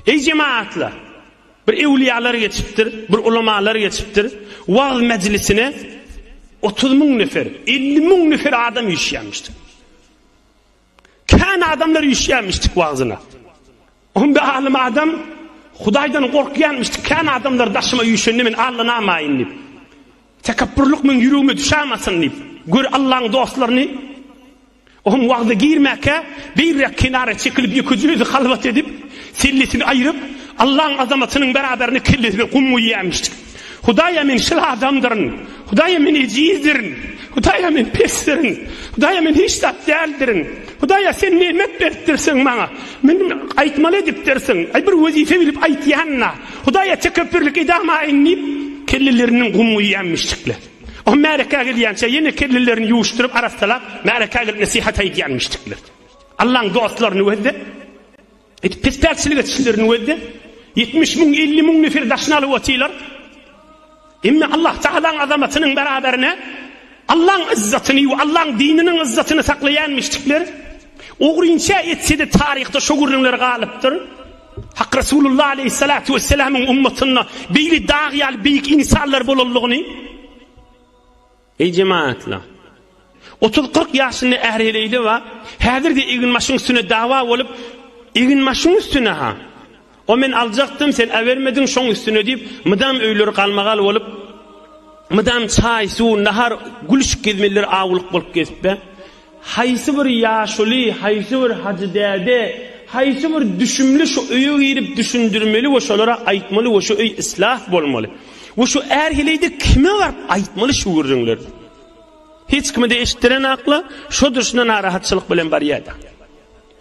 Eý jemagatlar! Bir ewliýalar geçipdir, bir ulamalar geçipdir. Wagyz mejlisine otuz müň nefer, elli müň nefer adam üýşýärmişdi. Kän adamlar üýşýärmişdi wagzyna. Onda alym adam Hudaýdan gorkýanmyşdy. Kän adamlar daşyma üýşende men allanamaýyn diýip. Tekepburlyk meň ýüregime düşämesin diýip. Gör Allaň dostlaryny Oň wagty girmäkä, beýläk kenara çekilip, ýeke jözi halwat edip, sellesini aýryp, Allaň azamatynyň beraberine kellesine gum guýýarmyşdyk. Hudaýa men şyl adamdyryn! Hudaýa men ejizdirin! Hudaýa men pesdirin! Hudaýa men hiç zat däldirin! Hudaýa sen nemet beripdirsiň maňa! Men aýtmaly edipdirsiň! Aý bir wezipe bilip aýtýan-la! Hudaýa tekepbirlik edamaýyn diýip, kelleleriniň gum guýýarmyşdyklar. O märekä gelýänçä ýene kellelerini ýuwuşdyryp, arassalap, märekä gelip nesihat aýdýan müşrikler. Allaň dostlaryny wezde, et pespäkçilik etişlerini wezde, 70 müň, 50 müň nefer daşyna alyp otylar. Emma Allah Tagalaň azamatynyň beraberine Allaň izzatyny we Allaň dininiň izzatyny saklaýan müşrikler, ogrynça etse-de taryhda şu gürrüňler galypdyr. Hak Resulullah aleýhissalatu wessalamyň ummatynda beýle dag ýaly beýik insanlar bolandygyny Eý jemaatlar. 30-40 ýaşynda ähli-leýli bar. Häzirde eginbaşyň üstüne dawa bolup, eginbaşyň üstüne ha. O men aljakdym, sen äbermediň, şoň üstüne diýip, mydam öýleri galmagal bolup, mydam çaý, suw, nahar, gülüşik gezmeliler awulyk bolup gezip be. Haýsy bir ýaşuly, haýsy bir hajy däde, haýsy bir düşümli şu öýe girip düşündirmeli we şolara aýtmaly we şu öý islah bolmaly. We şu är heleýde kime baryp aýtmaly şu gürrüňleri. Hiç kime-de eşitdiren akla, şodur şuna narahatçylyk bilen barýa-da.